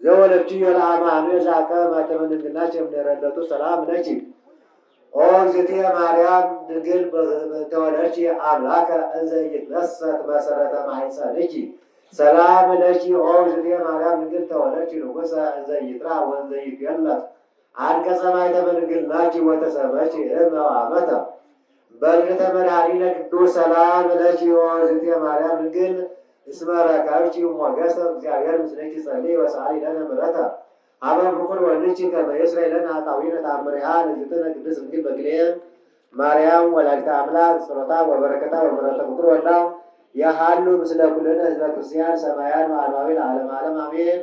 ዘወለድክዮ ለአማኑኤል ዘአከበ ማኅተመ ድንግልናኪ እምኔረ እለቱ ሰላም ለኪ ኦ እግዝእትየ ማርያም ድንግል በእንተ ወለድኪ አምላከ እንዘ ኢይትነሰት መሰረተ ማኅፀንኪ ሰላም ለኪ ኦ እግዝእትየ ማርያም ድንግል ተወለድኪ ንጉሠ እንዘ ኢይትራብ ወእንዘ ኢይትዌለድ አንቀጸ ማኅተመ ድንግልናኪ ወተሰመኪ እመ ወአመተ በልዒ ተመድኃኒነ ቅዱስ ሰላም ለኪ ኦ እግዝእትየ ማርያም ድንግል እስመ ረከብኪ ሞገሰ እግዚአብሔር ምስሌኪ ጸልዪ ወሰአሊ ለነ ምሕረተ ኀበ ፍቁር ወልድኪ ከመ ይስረይ ለነ ኃጣውኢነ ተአምሪሃ ለእግዝእትነ ቅድስት ድንግል በክልኤ ማርያም ወላዲተ አምላክ ጸሎታ ወበረከታ ወምሕረተ ፍቁር ወልዳ ይሃሉ ምስለ ኩልነ ሕዝበ ክርስቲያን ሰማያን ወአርማዊ ለዓለመ ዓለም አሜን።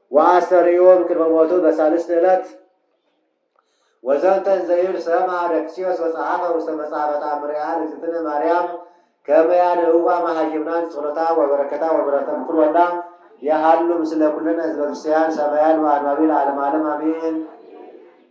ወኣስተርእዮም ቅድመ ሞቱ በሳልስት እለት። ወዘንተ እንዘ ይብል ሰምዐ ደክስዮስ ወጸሓፈ ውስተ መጽሐፈ ተኣምሪሃ ለእግዝእትነ ማርያም ከመ ያድኅዋ መኃይምናን ጸሎታ ወበረከታ ወምሕረተ ፍቁር ወልዳ የሃሉ ምስለ ኩልነ ሕዝበ ክርስቲያን ሰማያን ወአንባቢ ለዓለመ ዓለም አሜን።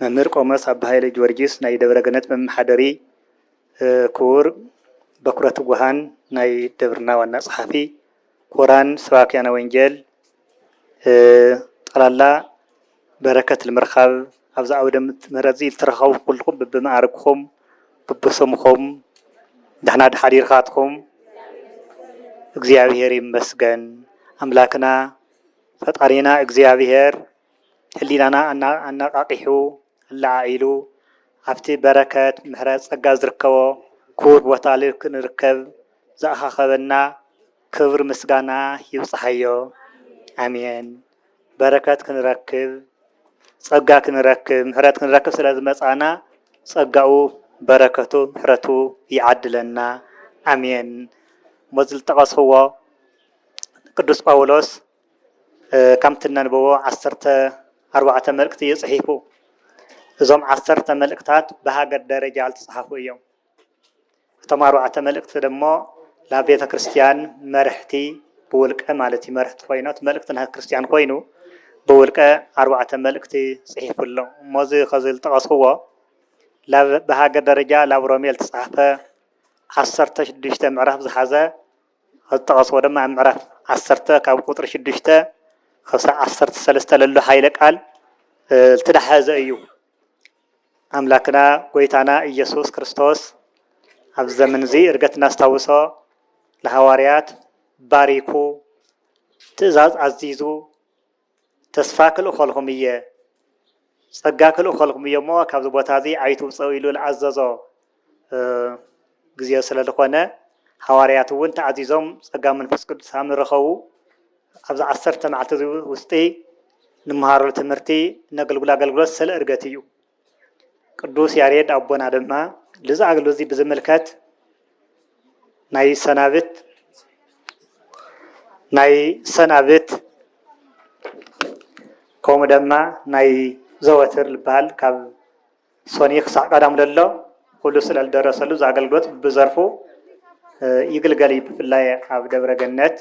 መምህር ቆሞስ ኣባ ሃይለ ጊዮርጊስ ናይ ደብረገነት መመሓደሪ፣ ክቡር በኵረ ትጉሃን ናይ ደብርና ዋና ጸሓፊ፣ ክቡራን ሰባክያነ ወንጌል፣ ጠቕላላ በረከት ንምርካብ ኣብዚ ዓውደ ምሕረት'ዚ ዝተረኸብኩም ኩልኹም በብመዓርግኩም በብስምኹም ደሕና ዶ ሓዲርካትኩም? እግዚኣብሔር ይመስገን ኣምላክና ፈጣሪና እግዚኣብሔር። ህሊናና ኣነቓቒሑ ኣለዓዒሉ ኣብቲ በረከት ምሕረት ጸጋ ዝርከቦ ክቡር ቦታ ክንርከብ ዝኣኻኸበና ክብሪ ምስጋና ይብጽሓዮ ኣሜን በረከት ክንረክብ ጸጋ ክንረክብ ምሕረት ክንረክብ ስለ ዝመጻና ጸጋኡ በረከቱ ምሕረቱ ይዓድለና ኣሜን እሞ ዝልጠቐስዎ ቅዱስ ጳውሎስ ከምቲ እነንብቦ ዓሰርተ ኣርባዕተ መልእክቲ እዩ ጽሒፉ። እዞም ዓሰርተ መልእክታት ብሃገር ደረጃ ዝተጻሓፉ እዮም። እቶም ኣርባዕተ መልእክቲ ደሞ ናብ ቤተ ክርስቲያን መርሕቲ ብውልቀ ማለት እዩ መርሕቲ ኮይኑ እቲ መልእክቲ ናይ ክርስቲያን ኮይኑ ብውልቀ ኣርባዕተ መልእክቲ ጽሒፉ ኣሎ። እሞ እዚ ከዚ ዝጠቐስክዎ ላብ ብሃገር ደረጃ ላብ ሮሜ ዝተጻሕፈ ዓሰርተ ሽዱሽተ ምዕራፍ ዝሓዘ ኣብ ዝጠቐስዎ ድማ ኣብ ምዕራፍ ዓሰርተ ካብ ቁፅሪ ሽዱሽተ ክሳብ ዓሰርተ ሰለስተ ለሎ ኃይለ ቃል ዝተዳሐዘ እዩ። ኣምላክና ጎይታና ኢየሱስ ክርስቶስ ኣብ ዘመን እዚ እርገት እናስታውሶ ንሃዋርያት ባሪኩ ትእዛዝ ኣዚዙ ተስፋ ክልእኸልኩም እየ፣ ጸጋ ክልእኸልኩም እየ እሞ ካብዚ ቦታ እዚ ኣይትውጸኡ ኢሉ ዝኣዘዞ ግዜ ስለ ዝኾነ ሃዋርያት እውን ተኣዚዞም ጸጋ መንፈስ ቅዱስ ሃም ዝረኸቡ ኣብዚ ዓሰርተ መዓልቲ እዚ ውስጢ ንመሃረሉ ትምህርቲ ነገልግሎ ኣገልግሎት ስለ እርገት እዩ። ቅዱስ ያሬድ ኣቦና ድማ ልዚ ኣገልግሎት እዚ ብዝምልከት ናይ ሰናብት ናይ ሰናብት ከምኡ ድማ ናይ ዘወትር ዝበሃል ካብ ሶኒ ክሳዕ ቀዳም ዘሎ ኩሉ ስለ ዝደረሰሉ እዚ ኣገልግሎት ብዘርፉ ይግልገል እዩ። ብፍላይ ኣብ ደብረ ገነት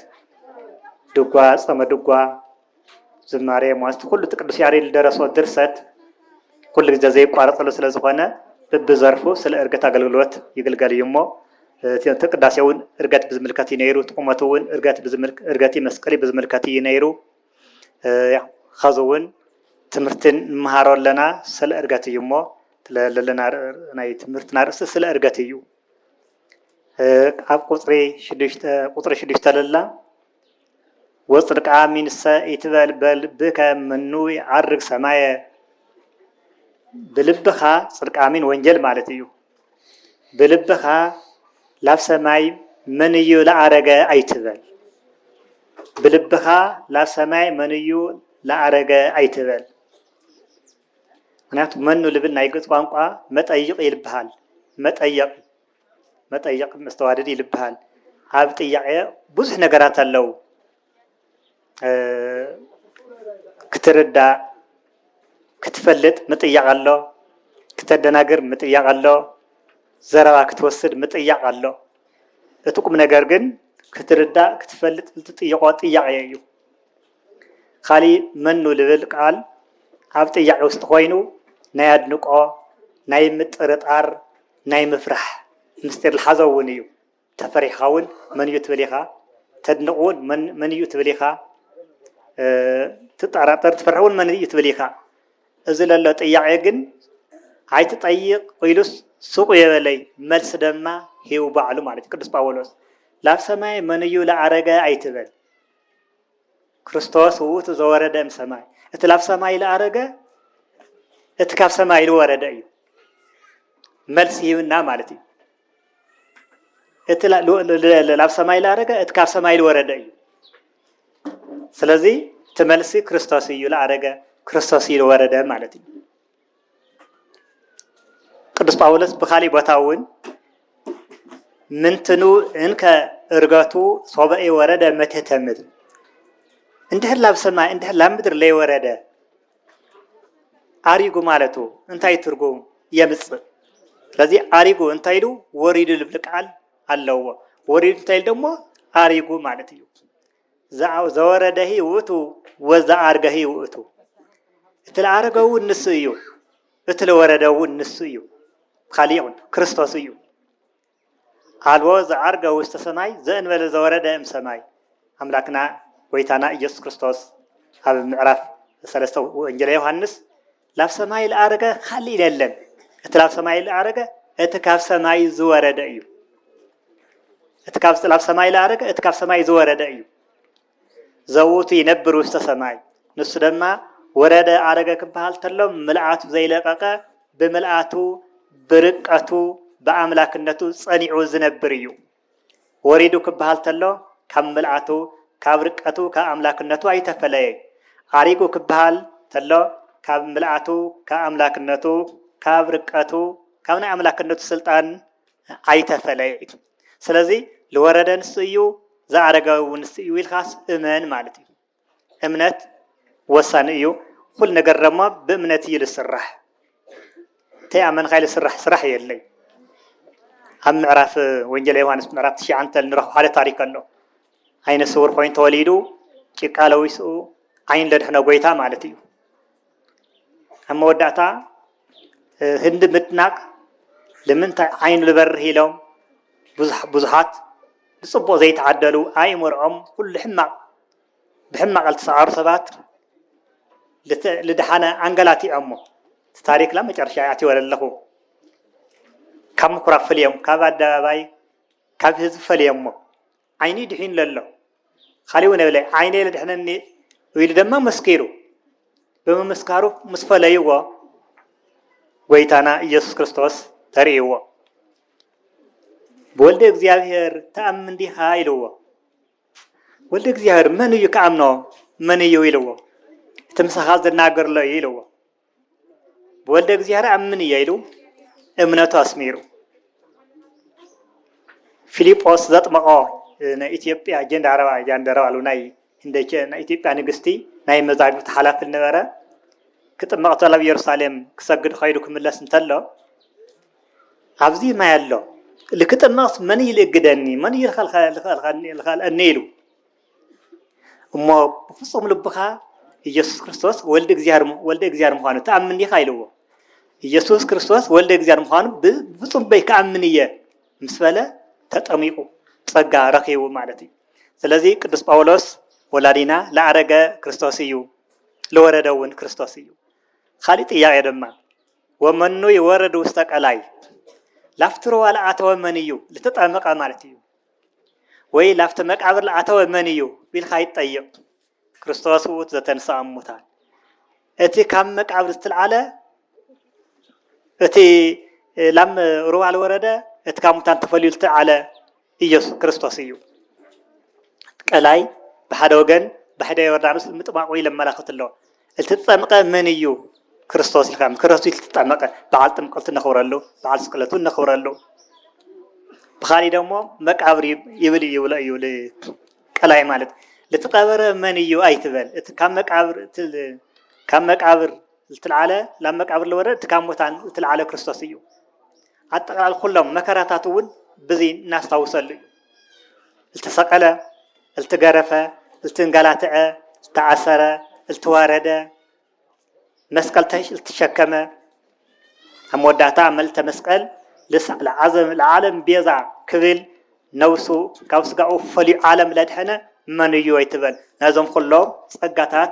ድጓ፣ ጸመ ድጓ ዝማሬ ሞስት ኩሉ እቲ ቅዱስ ያሬድ ዝደረሶ ድርሰት ኩሉ ግዜ ዘይቋረጸሉ ስለ ዝኾነ ብብዘርፉ ስለ እርገት ኣገልግሎት ይግልገል እዩ እሞ እቲ ቅዳሴ እውን እርገት ብዝምልከት እዩ ነይሩ። እቲ ቁመቱ እውን እርገት ብዝምልክ እርገቲ መስቀሊ ብዝምልከት እዩ ነይሩ። ኸዚ እውን ትምህርቲ ንመሃሮ ኣለና ስለ እርገት እዩ እሞ ለለና ናይ ትምህርትና ርእሲ ስለ እርገት እዩ ኣብ ቁፅሪ ሽዱሽተ ቁፅሪ ሽዱሽተ ለላ ወጽድቃ ሚንሰ ኢትበል በል ብእከ ምኑ ይዓርግ ሰማየ ብልብኻ ጽድቃሚን ወንጀል ማለት እዩ ብልብኻ ላብ ሰማይ መን እዩ ለኣረገ ኣይትበል ብልብኻ ላብ ሰማይ መን እዩ ለኣረገ ኣይትበል ምክንያቱ መኑ ልብል ናይ ግእዝ ቋንቋ መጠይቕ ይልብሃል መጠየቕ መጠየቅ መስተዋድድ ይልብሃል ኣብ ጥያቄ ብዙሕ ነገራት ኣለው ክትርዳእ ክትፈልጥ ምጥያቅ ኣሎ ክተደናግር ምጥያቅ ኣሎ ዘረባ ክትወስድ ምጥያቅ ኣሎ እቲ ቁም ነገር ግን ክትርዳእ ክትፈልጥ ዝትጥይቆ ጥያቄ እዩ። ኻሊእ መኑ ልብል ቃል ኣብ ጥያቄ ውስጥ ኾይኑ ናይ ኣድንቆ፣ ናይ ምጥርጣር፣ ናይ ምፍራሕ ምስጢር ልሓዘ እውን እዩ። ተፈሪሕኻ እውን መን እዩ ትብል ኢኻ፣ ተድንቅ እውን መን እዩ ትብል ኢኻ፣ ትጠራጠር ትፈርሕ እውን መን እዩ ትብል ኢኻ። እዚ ለሎ ጥያቄ ግን ኣይትጠይቅ ኢሉስ ሱቁ የበለይ መልሲ ደማ ሂቡ ባዕሉ ማለት እዩ ቅዱስ ጳውሎስ ላብ ሰማይ መን እዩ ልኣረገ ኣይትበል። ክርስቶስ ውእቱ ዘወረደ እም ሰማይ እቲ ላብ ሰማይ ልኣረገ እቲ ካብ ሰማይ ልወረደ እዩ መልሲ ሂብና ማለት እዩ እቲ ላብ ሰማይ ልኣረገ እቲ ካብ ሰማይ ልወረደ እዩ ስለዚ እቲ መልሲ ክርስቶስ እዩ ልኣረገ ክርስቶስ እዩ ልወረደ ማለት እዩ ቅዱስ ጳውሎስ ብካሊእ ቦታ እውን ምንትኑ እንከ እርገቱ ሶበኤ ወረደ መቴተ ምድር እንድሕር ላብ ሰማይ እንድሕር ላብ ምድር ለይወረደ ኣሪጉ ማለቱ እንታይ ትርጉም የምፅእ? ስለዚ ኣሪጉ እንታይ ኢሉ ወሪዱ ልብል ቃል ኣለዎ። ወሪዱ እንታይ ኢሉ ደግሞ ኣሪጉ ማለት እዩ። ዘወረደሂ ውእቱ ወዘኣርገሂ ውእቱ፣ እቲ ለኣረገ እውን ንሱ እዩ፣ እቲ ለወረደ እውን ንሱ እዩ፣ ብካሊእ እውን ክርስቶስ እዩ። ኣልቦ ዘኣርገ ውስተ ሰማይ ዘእንበለ ዘወረደ እም ሰማይ ኣምላክና ጎይታና ኢየሱስ ክርስቶስ ኣብ ምዕራፍ ሰለስተ ወንጌለ ዮሓንስ ላብ ሰማይ ልኣረገ ኻልእ የለን፣ እቲ ላብ ሰማይ ልኣረገ እቲ ካብ ሰማይ ዝወረደ እዩ። እቲ ካብ ላብ ሰማይ ልኣረገ እቲ ካብ ሰማይ ዝወረደ እዩ። ዘውቱ ይነብር ውስተ ሰማይ ንሱ ድማ ወረደ ኣረገ ክበሃል ተሎ ምልኣቱ ዘይለቐቐ ብምልኣቱ ብርቀቱ ብኣምላክነቱ ጸኒዑ ዝነብር እዩ። ወሪዱ ክበሃል ተሎ ካብ ምልኣቱ ካብ ርቀቱ ካብ ኣምላክነቱ ኣይተፈለየ ዓሪጉ ክበሃል ተሎ ካብ ምልኣቱ ካብ ኣምላክነቱ ካብ ርቀቱ ካብ ናይ ኣምላክነቱ ስልጣን ኣይተፈለየ እዩ ስለዚ ልወረደ ንሱ እዩ ዝኣረገ ውን ንሱ እዩ ኢልካስ እመን ማለት እዩ እምነት ወሳኒ እዩ ኩሉ ነገር ደማ ብእምነት እዩ ዝስራሕ ተይኣመንካ ዝስራሕ ስራሕ የለይ ኣብ ምዕራፍ ወንጌል ዮሃንስ ምዕራፍ ትሽዓንተ ንረኽቦ ሓደ ታሪክ ኣሎ ዓይነ ስውር ኮይኑ ተወሊዱ ጭቃ ለዊስኡ ዓይን ለድሕነ ጎይታ ማለት እዩ ኣብ መወዳእታ ህንዲ ምድናቅ ንምንታይ ዓይኑ ዝበርህ ኢሎም ብዙሓት ብፅቡቅ ዘይተዓደሉ ኣይምርዖም ኩሉ ሕማቅ ብሕማቕ ልትሰዓሩ ሰባት ልደሓነ ኣንገላቲዖሞ እቲ ታሪክ ላብ መጨረሻ ይኣትዮ ለለኹ ካብ ምኩራብ ፈልዮም ካብ ኣደባባይ ካብ ህዝቢ ፈልዮሞ ዓይኒ ድሒኑ ለሎ ካሊእ እውን የብለ ዓይነይ ልድሕነኒ ኢሉ ድማ መስኪሩ ብምምስካሩ ምስ ፈለይዎ ጎይታና ኢየሱስ ክርስቶስ ተርእይዎ ብወልደ እግዚኣብሔር ተኣምን ዲኻ ኢልዎ ወልደ እግዚኣብሔር መን እዩ ክኣምኖ መን እዩ ኢልዎ እቲ ምሳኻ ዝናገርሎ እዩ ኢልዎ ብወልደ እግዚኣብሔር ኣምን እየ ኢሉ እምነቱ ኣስሚሩ ፊልጶስ ዘጥመቆ ናይ ኢትዮጵያ ጀንዳረባ ጃንደረባ ኣሉ ናይ እንደቸ ናይ ኢትዮጵያ ንግስቲ ናይ መዛግብቲ ሓላፊ ነበረ ክጥመቕ ተሎ ኣብ ኢየሩሳሌም ክሰግድ ኸይዱ ክምለስ እንተሎ ኣብዚ ማይ ኣሎ ኢሉ ክጥመቕስ መን ኢሉ የእግደኒ፣ መን ኢሉ ይኸልእኒ ኢሉ እሞ ብፍጹም ልብኻ ኢየሱስ ክርስቶስ ወልድ እግዚኣብሔር ምዃኑ ትኣምን ዲኻ ኢልዎ። ኢየሱስ ክርስቶስ ወልድ እግዚኣብሔር ምዃኑ ብፍጹም ልበይ ክኣምን እየ ምስ በለ ተጠሚቑ ጸጋ ረኺቡ ማለት እዩ። ስለዚ ቅዱስ ጳውሎስ ወላዲና ለኣረገ ክርስቶስ እዩ፣ ለወረደ እውን ክርስቶስ እዩ። ካሊእ ጥያቄ ድማ ወመኑ ይወርድ ውስተ ቀላይ ላፍቲ ሩባ ለኣተወ መን እዩ ልተጠምቀ ማለት እዩ ወይ ላፍቲ መቃብር ለኣተወ መን እዩ ቢልካ ይጠይቅ ክርስቶስ ውእቱ ዘተንስኣ እሙታን እቲ ካብ መቃብር ዝተልዓለ እቲ ላም ሩባ ልወረደ እቲ ካብ ሙታን ተፈልዩ ዝተልዓለ ኢየሱስ ክርስቶስ እዩ። ቀላይ ብሓደ ወገን ባሕደ ዮርዳኖስ ምጥማቁ ኢለመላክት ኣሎ እልትጠምቀ መን እዩ ክርስቶስ ኢልካ ክርስቶስ እልትጠመቀ በዓል ጥምቀቱ ነኽብረሉ በዓል ስቅለቱ ነኽብረሉ ብኻሊ ደሞ መቃብር ይብል ይብሎ እዩ ቀላይ ማለት ልትቀበረ መን እዩ ኣይትበል እቲ ካብ መቃብር ካብ መቃብር ልትልዓለ ላብ መቃብር ልወረድ እቲ ካብ ሞታን ልትልዓለ ክርስቶስ እዩ ኣጠቓላሊ ኩሎም መከራታቱ እውን ብዚ እናስታውሰሉ እዩ። እልተሰቐለ፣ እልትገረፈ፣ እልትንገላትዐ፣ እልተኣሰረ፣ እልትዋረደ፣ መስቀል እልትሸከመ፣ ኣብ መወዳእታ ኣብ መልእተ መስቀል ለዓለም ቤዛ ክብል ነብሱ ካብ ስጋኡ ፈልዩ ዓለም ለድሐነ መን እዩ ኣይትበል ነዞም ኩሎም ጸጋታት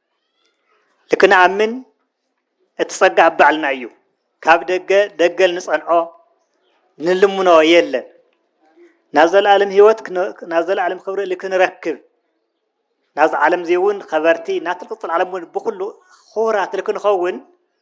ልክንኣምን እቲ ጸጋ ኣብ ባዕልና እዩ። ካብ ደገ ደገል ንጸንዖ ንልምኖ የለን። ናብ ዘለኣለም ህይወት ናብ ዘለኣለም ክብሪ እሊ ክንረክብ ናብዚ ዓለም እዚ እውን ኸበርቲ ናትልቅፅል ዓለም እውን ብኩሉ ክቡራት ክንኸውን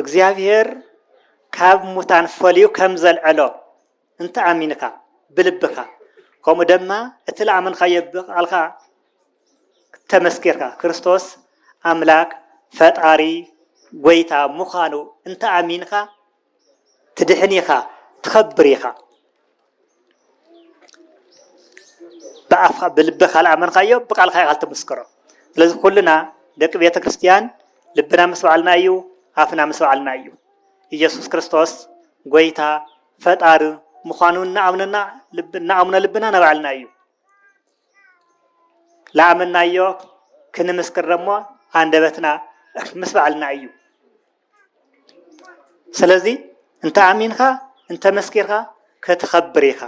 እግዚኣብሔር ካብ ሙታን ፈልዩ ከም ዘልዐሎ እንተ ኣሚንካ ብልብካ ከምኡ ደማ እቲ ለኣመንካዮ ብቃልካ ተመስኪርካ ክርስቶስ ኣምላክ ፈጣሪ ጎይታ ምዃኑ እንተ ኣሚንካ ትድሕን ኢኻ ትኸብር ኢኻ ብኣፍካ ብልብኻ ልኣመንካዮ ብቃልካ ኢኻ ልትምስክሮ ስለዚ ኩልና ደቂ ቤተ ክርስትያን ልብና ምስ በዓልና እዩ ኣፍና ምስ በዓልና እዩ ኢየሱስ ክርስቶስ ጎይታ ፈጣሪ ምዃኑ እናኣምነና እናኣምነ ልብና ናባዕልና እዩ ልኣመናዮ ክንምስክር ደሞ ኣንደበትና ምስ በዓልና እዩ ስለዚ እንተ ኣሚንካ እንተ መስኪርካ ክትኸብር ኢኻ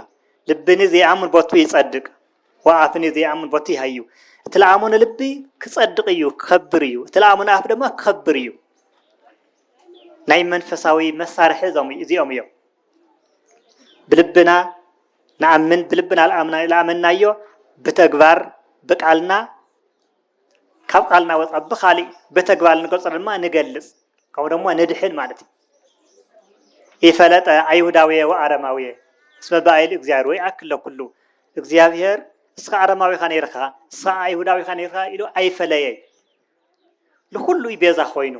ልብኒ ዘይኣምን ቦቱ ይጸድቅ ወኣፍኒ ዘይኣምን ቦቱ ይሃዩ እቲ ለኣሙን ልቢ ክጸድቅ እዩ ክኸብር እዩ እቲ ለኣሙን ኣፍ ድማ ክኸብር እዩ ናይ መንፈሳዊ መሳርሒ እዚኦም እዮም ብልብና ንኣምን ብልብና ለኣመናዮ ብተግባር ብቃልና ካብ ቃልና ወፃ ብካሊእ በተግባር ልንገልፆ ድማ ንገልፅ ከምኡ ደሞ ንድሕን ማለት እዩ ኢፈለጠ ኣይሁዳውየ ወኣረማውየ እስመ ብኣይል እግዚኣብሔር ወይ ኣክለ ኩሉ እግዚኣብሔር እስኻ ኣረማዊኻ ነይርካ እስኻ ኣይሁዳዊኻ ነይርካ ኢሉ ኣይፈለየ ንኩሉ እዩ ቤዛ ኮይኑ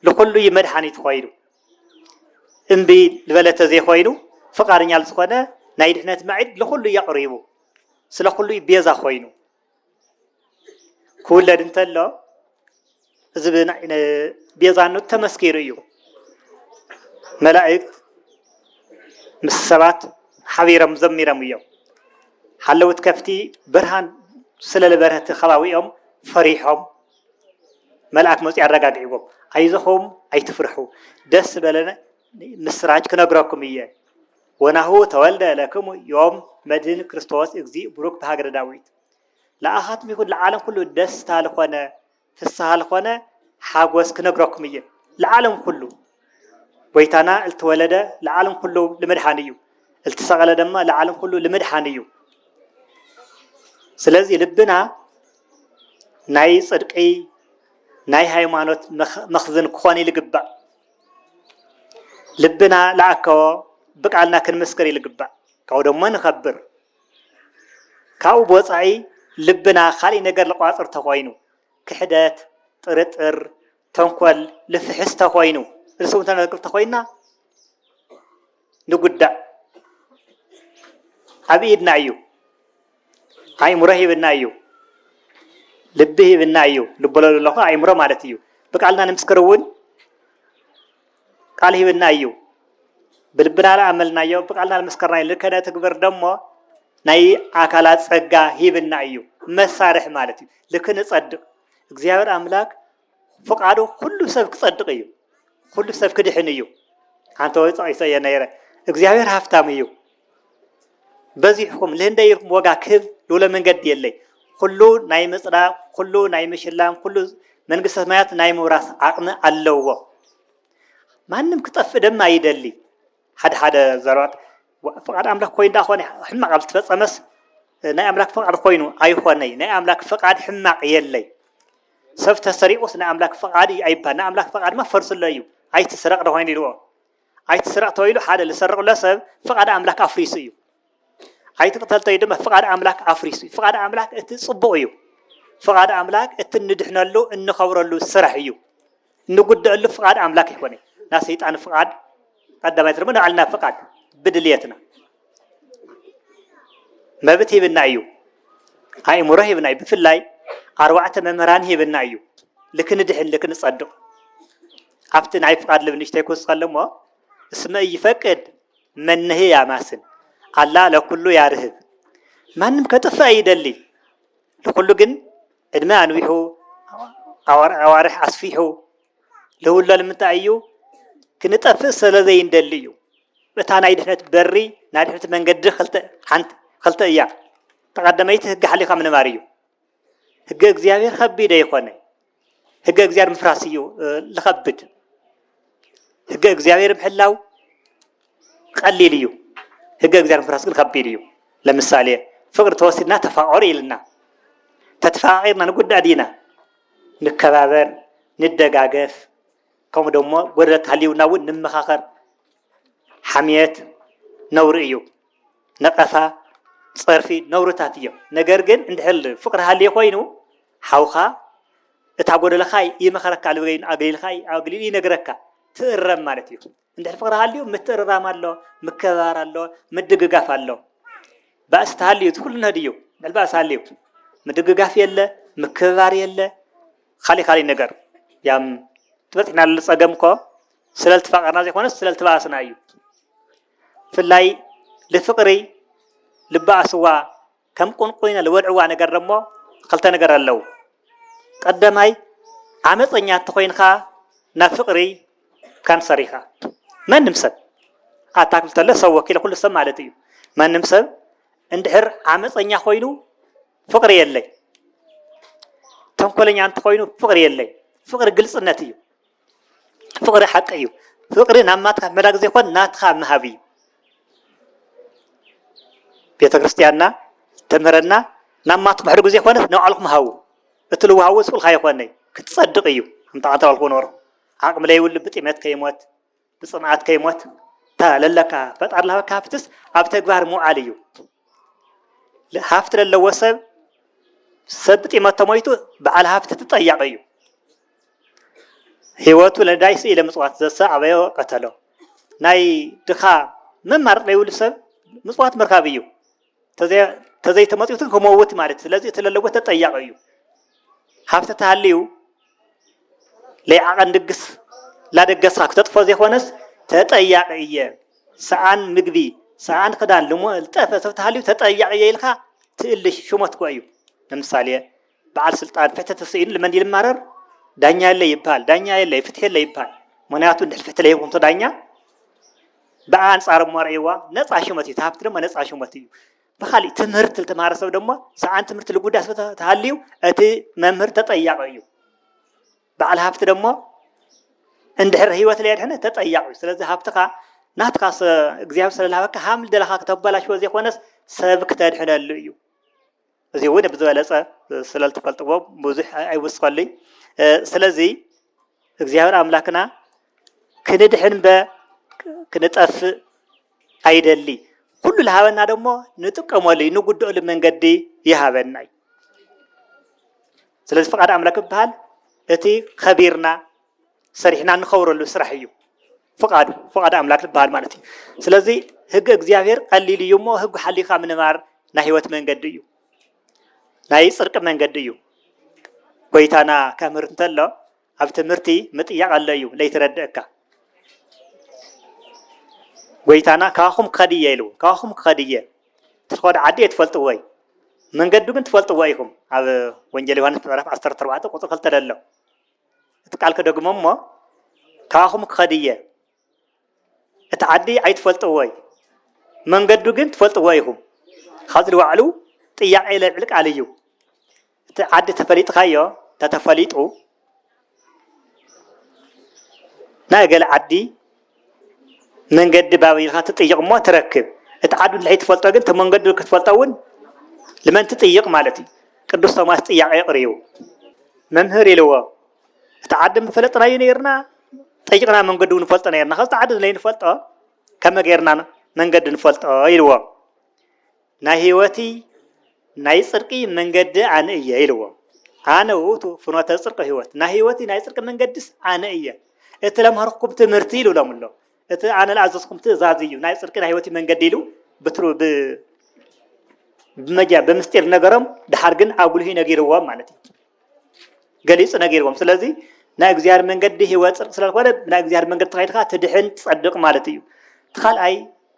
ንኩሉ እዩ መድሓኒት ኮይኑ እምቢ ዝበለ ተዘይኮይኑ ፍቃደኛ ዝኾነ ናይ ድሕነት መዒድ ንኩሉ እዩ ኣቕሪቡ ስለ ኩሉይ ቤዛ ኮይኑ ክውለድ እንተሎ እዚ ቤዛነቱ ተመስኪሩ እዩ። መላእክት ምስ ሰባት ሓቢሮም ዘሚሮም እዮም። ሓለውት ከፍቲ ብርሃን ስለ ዝበረህቲ ከባቢኦም ፈሪሖም መልኣክ መፅኡ ኣረጋጊዕዎም ኣይዞኹም ኣይትፍርሑ ደስ ዝበለ ምስራች ክነግረኩም እየ ወናሁ ተወልደ ለክሙ ዮም መድህን ክርስቶስ እግዚእ ቡሩክ በሃገረ ዳዊት። ለኣኻትም ይኹን ለዓለም ኩሉ ደስታ ልኾነ ፍስሃ ልኾነ ሓጎስ ክነግረኩም እየ ለዓለም ኩሉ ጎይታና እልተወለደ ለዓለም ኩሉ ልመድሓን እዩ እልተሰቐለ ደማ ለዓለም ኩሉ ልመድሓን እዩ። ስለዚ ልብና ናይ ጽድቂ ናይ ሃይማኖት መኽዝን ክኾን ልግባእ። ልብና ለኣከቦ ብቃልና ክንምስክር ይልግባእ ካብኡ ደሞ ንኸብር ካብኡ ብወፃኢ ልብና ካሊእ ነገር ልቋፅር ተኾይኑ ክሕደት ጥርጥር ተንኮል ልፍሕስ ተኾይኑ እርስውንተ ነርክብ ተኾይንና ንጉዳእ ኣብ ኢድና እዩ። ኣይምሮ ሂብና እዩ ልቢ ሂብና እዩ ልበሎ ዘለኹ ኣይምሮ ማለት እዩ ብቃልና ንምስክር እውን ቃል ሂብና እዩ ብልብና ልኣመልናዮ ብቃልና ልመስከርና እዩ ልከነ ትግብር ደሞ ናይ ኣካላት ጸጋ ሂብና እዩ መሳርሒ ማለት እዩ ልክ ንጸድቕ እግዚኣብሔር ኣምላክ ፍቃዱ ኩሉ ሰብ ክጸድቅ እዩ ኩሉ ሰብ ክድሕን እዩ ሓንቲ ወይ ጸቂሰ እየ ነይረ እግዚኣብሔር ሃፍታም እዩ በዚሕኩም ልህንደይ ኢልኩም ዋጋ ክህብ ልውለ መንገዲ የለይ ኩሉ ናይ ምጽዳ ኩሉ ናይ ምሽላም ኩሉ መንግስተ ሰማያት ናይ ምውራስ ዓቅሚ ኣለዎ ማንም ክጠፍእ ደማ ይደሊ ሓደ ሓደ ዘረባታት ፍቓድ ኣምላኽ ኮይኑ ደኣ ኾነ ሕማቕ ኣብ ዝተፈጸመስ ናይ ኣምላክ ፍቃድ ኮይኑ ኣይኾነይ ናይ ኣምላክ ፍቃድ ሕማቅ የለይ ሰብ ተሰሪቁስ ናይ ኣምላክ ፍቃድ እዩ ኣይባል ናይ ኣምላክ ፍቃድ ማ ፈርስሎ እዩ ኣይትስረቅ ዶ ኮይኑ ኢልዎ ኣይትስረቅ ተባሂሉ ሓደ ዝሰርቅሎ ሰብ ፍቃድ ኣምላክ ኣፍሪሱ እዩ ኣይትቅተል ተይ ድማ ፍቃድ ኣምላክ ኣፍሪሱ እዩ ፍቃድ ኣምላክ እቲ ጽቡቅ እዩ ፍቃድ ኣምላክ እቲ እንድሕነሉ እንኸብረሉ ስራሕ እዩ እንጉደአሉ ፍቃድ ኣምላክ ኣይኮነ ናይ ሰይጣን ፍቃድ ቀዳማይ ድማ ንባዕልና ፍቃድ ብድልየትና መብት ሂብና እዩ ኣእምሮ ሂብና እዩ ብፍላይ ኣርባዕተ መምህራን ሂብና እዩ ልክንድሕን ልክንጸድቕ ኣብቲ ናይ ፍቃድ ልብ ንሽተይ ክውስኸሉ እሞ እስመ እይፈቅድ መነሂ ያማስል ኣላ ለኩሉ ያርህብ ማንም ከጥፍእ ኣይደሊ ልኩሉ ግን ዕድመ ኣንዊሑ ኣዋርሕ ኣስፊሑ ልውሎ ልምንታይ እዩ ክንጠፍእ ሰለዘይንደሊ እዩ እታ ናይ ድሕነት በሪ ናይ ድሕነት መንገዲ ክልተ ሓንቲ ክልተ እያ ተቀደመይቲ ህግ ሓሊካ ምንባር እዩ ህገ እግዚኣብሔር ከቢደ ይኮነ ህገ እግዚኣብሔር ምፍራስ እዩ ልኸብድ ህገ እግዚኣብሔር ምሕላው ቀሊል እዩ ህገ እግዚኣብሔር ምፍራስ ግን ከቢድ እዩ ለምሳሌ ፍቅሪ ተወሲድና ተፋቀሩ ኢልና ተተፋቂርና ንጉዳእ ዲና ንከባበር ንደጋገፍ ከምኡ ደሞ ጎደለት ሃልውና እውን ንመኻኸር ሓምየት ነውሪ እዩ ነቀፋ ጸርፊ ነውርታት እዮም ነገር ግን እንድሕር ፍቅሪ ሃልዩ ኮይኑ ሓውካ እታ ጎደለካ ይመኸረካ ልበገይኑ ኣግሊልካ ኣግሊሉ ይነግረካ ትእረም ማለት እዩ እንድሕር ፍቅሪ ሃልዩ ምትእርራም ኣሎ ምከባር ኣሎ ምድግጋፍ ኣሎ ባእሲ ተሃልዩ እቲ ኩሉ ነህድ እዩ እንድሕር ባእሲ ሃልዩ ምድግጋፍ የለ ምክብባር የለ ካሊእ ካሊእ ነገር ያም ትበፅሕና ፀገም እኮ ስለልትፋቀርና ዘይኮነስ ስለልትባእስና እዩ ብፍላይ ልፍቅሪ ልባኣስዋ ከም ቁንቁይና ልበልዕዋ ነገር ደሞ ኽልተ ነገር ኣለው ቀደማይ ዓመፀኛ እንተኾይንኻ ናብ ፍቅሪ ካንሰር ኢኻ መንም ሰብ ኣታ ክብል ተሎ ሰብ ወኪለ ኩሉ ሰብ ማለት እዩ መንም ሰብ እንድሕር ዓመፀኛ ኮይኑ ፍቅሪ የለይ ተንኮለኛ እንተኮይኑ ፍቅሪ የለይ ፍቅሪ ግልፅነት እዩ ፍቅሪ ሓቂ እዩ ፍቅሪ ናብ ናትካ ምላክ ዘይኮን ናትካ ምሃብ እዩ ቤተክርስትያንና ተምህረና ናብ ማትኩም ሕድጉ ዘይኮነስ ናብ ባዕልኩም ሃቡ እቲ ልዋሃቡ ስቁልካ ይኮነይ ክትጸድቅ እዩ ኣንተ ኣንተ ባልኩም ኑሩ ዓቅሚ ለይብሉ ብጥሜት ከይሞት ብፅምኣት ከይሞት እታ ለለካ ፈጣሪ ልሃበካ ሃፍትስ ኣብ ተግባር ምውዓል እዩ። ሃፍቲ ለለዎ ሰብ ሰብ ብጢመት ተሞይቱ በዓል ሃፍቲ ትጠያቂ እዩ። ህይወቱ ለዳይ ስኢለ ምፅዋት ዘሰ ኣበዮ ቀተሎ ናይ ድኻ መማረፅ ዘይብሉ ሰብ ምፅዋት ምርካብ እዩ። ተዘይተመፅዩትን ክመውት ማለት ስለዚ እቲ ለለጎ ተጠያቂ እዩ ሃብቲ ተሃልዩ ለይዓቐን ድግስ ላደገስካ ክተጥፎ ዘይኮነስ ተጠያቂ እየ ሰኣን ምግቢ ሰኣን ክዳን ልጠፈ ሰብ ተሃልዩ ተጠያቂ እየ ኢልካ ትእልሽ ሽሞትኮ እዩ ንምሳሌ በዓል ስልጣን ፍትሒ ተሰኢኑ ልመን ይልማረር ዳኛ የለ ይበሃል ዳኛ የለ ፍትሒ የለ ይበሃል ምክንያቱ እንድሕር ፍትሒ ለይኹንቶ ዳኛ ብኣ ኣንጻር እሞ ርእይዋ ነፃ ሽመት እዩ ተሃብቲ ድማ ነፃ ሽመት እዩ ብካሊእ ትምህርቲ ዝተምሃረ ሰብ ድማ ሰዓን ትምህርቲ ልጉዳ ስለ ተሃልዩ እቲ መምህር ተጠያቂ እዩ በዓል ሃፍቲ ደግሞ እንድሕር ህይወት ለየድሕነ ተጠያቂ እዩ ስለዚ ሃብትኻ ናትካ እግዚኣብሔር ስለዝሃበካ ሃም ደለኻ ክተበላሽዎ ዘይኮነስ ሰብ ክተድሕነሉ እዩ እዚ እውን ብዝበለፀ ስለዝትፈልጥዎ ብዙሕ ኣይውስኸሉይ ስለዚ እግዚኣብሔር ኣምላክና ክንድሕን በ ክንጠፍእ ኣይደሊ ኩሉ ልሃበና ደሞ ንጥቀመሉ ንጉድኦሉ መንገዲ ይሃበና እዩ ስለዚ ፍቃድ ኣምላክ ይበሃል እቲ ከቢርና ሰሪሕና እንኸብረሉ ስራሕ እዩ ፍቃዱ ፍቃድ ኣምላክ ዝበሃል ማለት እዩ ስለዚ ህግ እግዚኣብሔር ቀሊል እዩ እሞ ህግ ሓሊካ ምንባር ናይ ህይወት መንገዲ እዩ ናይ ፅርቂ መንገዲ እዩ ጎይታና ከምህር እንተሎ ኣብ ትምህርቲ ምጥያቅ ኣሎ እዩ ለይትረድእካ ጎይታና ካባኹም ክኸድ እየ ኢሉ ካባኹም ክኸድ እየ ትኸዱ ዓዲ እየ ትፈልጥዎ እዩ መንገዱ ግን ትፈልጥዎ ኢኹም ኣብ ወንጀል ዮሃንስ ምዕራፍ 14 ቁፅሪ ክልተ ደሎ እቲ ቃል ክደግሞ እሞ ካባኹም ክኸድ እየ። እቲ ዓዲ ኣይትፈልጥዎይ መንገዱ ግን ትፈልጥዎ ኢኹም። ካብዚ ልዋዕሉ ጥያቄ ለብዕል ቃል እዩ። እቲ ዓዲ ተፈሊጥካዮ ተተፈሊጡ ናይ ገለ ዓዲ መንገዲ ባብ ኢልካ ትጥይቕ እሞ ትረክብ እቲ ዓዱ እንድሕይ ትፈልጦ ግን እቲ መንገዱ ክትፈልጦ እውን ልመን ትጥይቕ ማለት እዩ ቅዱስ ቶማስ ጥያቄ የቕርዩ መምህር ኢልዎ እቲ ዓዲ ምፈለጥናዩ ነይርና ጠይቕና መንገዱ ንፈልጦ ነርና ካብቲ ዓዲ ዘይንፈልጦ ከመ ገይርና መንገዲ ንፈልጦ ኢልዎ ናይ ሕይወቲ ናይ ጽርቂ መንገዲ ኣነ እየ ኢልዎ ኣነ ውእቱ ፍኖተ ጽርቂ ሕይወት ናይ ሕይወቲ ናይ ጽርቂ መንገድስ ኣነ እየ እቲ ለምሃርኩም ትምህርቲ ኢሉ ሎም ኣሎ እቲ ኣነ ለኣዘዝኩም ትእዛዝ እዩ ናይ ጽርቂ ናይ ሕይወቲ መንገዲ ኢሉ ብትሩ ብመጃ ብምስጢር ነገሮም ድሓር ግን ኣጉልሂ ነጊርዎም ማለት እዩ ገሊጹ ነጊርዎም ስለዚ ናይ እግዚኣብሔር መንገዲ ህይወት ጽድቅ ስለዝኮነ ናይ እግዚኣብሔር መንገዲ ተኸይድካ ትድሕን ትጸድቅ ማለት እዩ እቲ ካልኣይ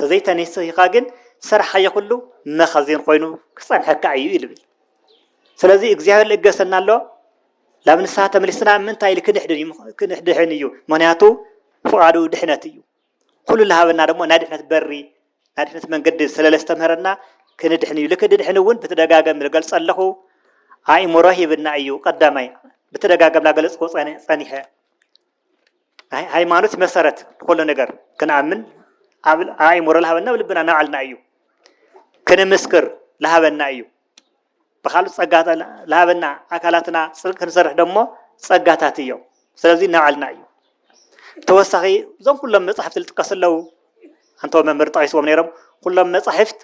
ተዘይተኔሲሂካ ግን ዝሰርሓዮ ኩሉ መኸዚን ኮይኑ ክጸንሐካ እዩ እዩ ልብል ስለዚ እግዚኣብሔር ልእገሰና ኣሎ ናብ ንስሓ ተመሊስና ምንታይ ኢል ክንድሕን እዩ ምክንያቱ ፍቓዱ ድሕነት እዩ ኩሉ ልሃበና ደሞ ናይ ድሕነት በሪ ናይ ድሕነት መንገዲ ስለለስተምህረና ክንድሕን እዩ ልክ ድድሕን እውን ብተደጋገም ዝገልጸ ኣለኹ ኣእምሮ ሂብና እዩ ቀዳማይ ብተደጋገም ላገለጽዎ ጸኒሐ ሃይማኖት መሰረት ንኩሉ ነገር ክንኣምን ኣብ ኣእምሮ ዝሃበና ኣብ ልብና ናባዕልና እዩ ክንምስክር ዝሃበና እዩ ብካልእ ፀጋ ዝሃበና ኣካላትና ፅድቂ ክንሰርሕ ደሞ ፀጋታት እዮም ስለዚ ናባዕልና እዩ ተወሳኺ እዞም ኩሎም መፅሕፍቲ ዝጥቀሱ ኣለዉ ኣንተ መምህር ጠቂስዎም ነይሮም ኩሎም መፃሕፍት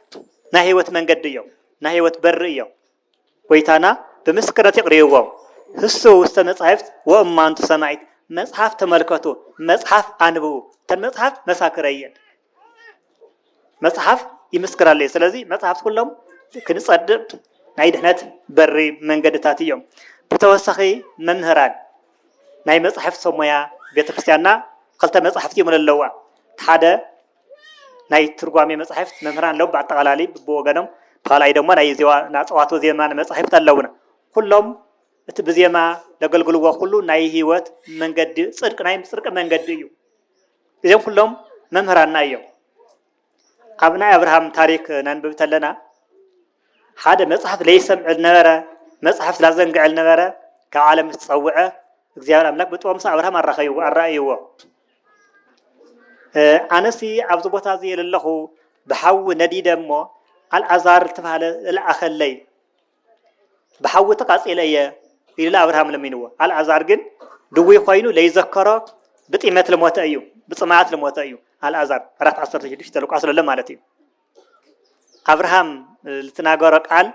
ናይ ህይወት መንገዲ እዮም ናይ ህይወት በሪ እዮም ጐይታና ብምስክርነት የቕርብዎም፣ ህሱ ውስተ መጻሕፍት ወእማንቱ ሰማዒት፣ መጽሓፍ ተመልከቱ፣ መጽሓፍ ኣንብቡ፣ እተን መጽሓፍት መሳክረይ እየን፣ መጽሓፍ ይምስክራለይ፣ ስለዚ መጽሓፍት ኩሎም ክንጸድቕ ናይ ድሕነት በሪ መንገድታት እዮም፣ ብተወሳኺ መምህራን ናይ መጻሕፍት ሰብ ሞያ ቤተ ክርስቲያንና ክልተ መጻሕፍት እዮም ለለዋ፣ እቲ ሓደ። ናይ ትርጓሜ መጻሕፍት መምህራን ኣለዉ ብኣጠቓላሊ ብወገኖም ካልኣይ ደሞ ናይ ዜዋ ናጸዋቶ ዜማ መጻሕፍት ኣለዉና ኩሎም እቲ ብዜማ ዘገልግልዎ ኩሉ ናይ ህይወት መንገዲ ጽድቂ ናይ ጽድቂ መንገዲ እዩ እዚኦም ኩሎም መምህራንና እዮም ኣብ ናይ ኣብርሃም ታሪክ ነንብብ ተለና ሓደ መጽሐፍ ለይሰምዕ ልነበረ መጽሐፍት ላዘንግዐ ልነበረ ካብ ዓለም ምስ ጸውዐ እግዚኣብሔር ኣምላክ ብጥበብ ምስ ኣብርሃም ኣራኸይዎ ኣራእይዎ ኣነሲ ኣብዚ ቦታ እዚ የለለኹ ብሓዊ ነዲደ እሞ ኣልኣዛር ዝተባሃለ ልኣኸለይ ብሓዊ ተቃጺለ እየ ኢሉ ኣብርሃም ለሚንዎ ኣልኣዛር ግን ድዊ ኮይኑ ለይዘከሮ ብጢመት ልሞተ እዩ ብፅማኣት ልሞተ እዩ ኣልኣዛር ኣራት ዓሰርተ ሽዱሽተ ልቋስ ለሎ ማለት እዩ ኣብርሃም ልትናገሮ ቃል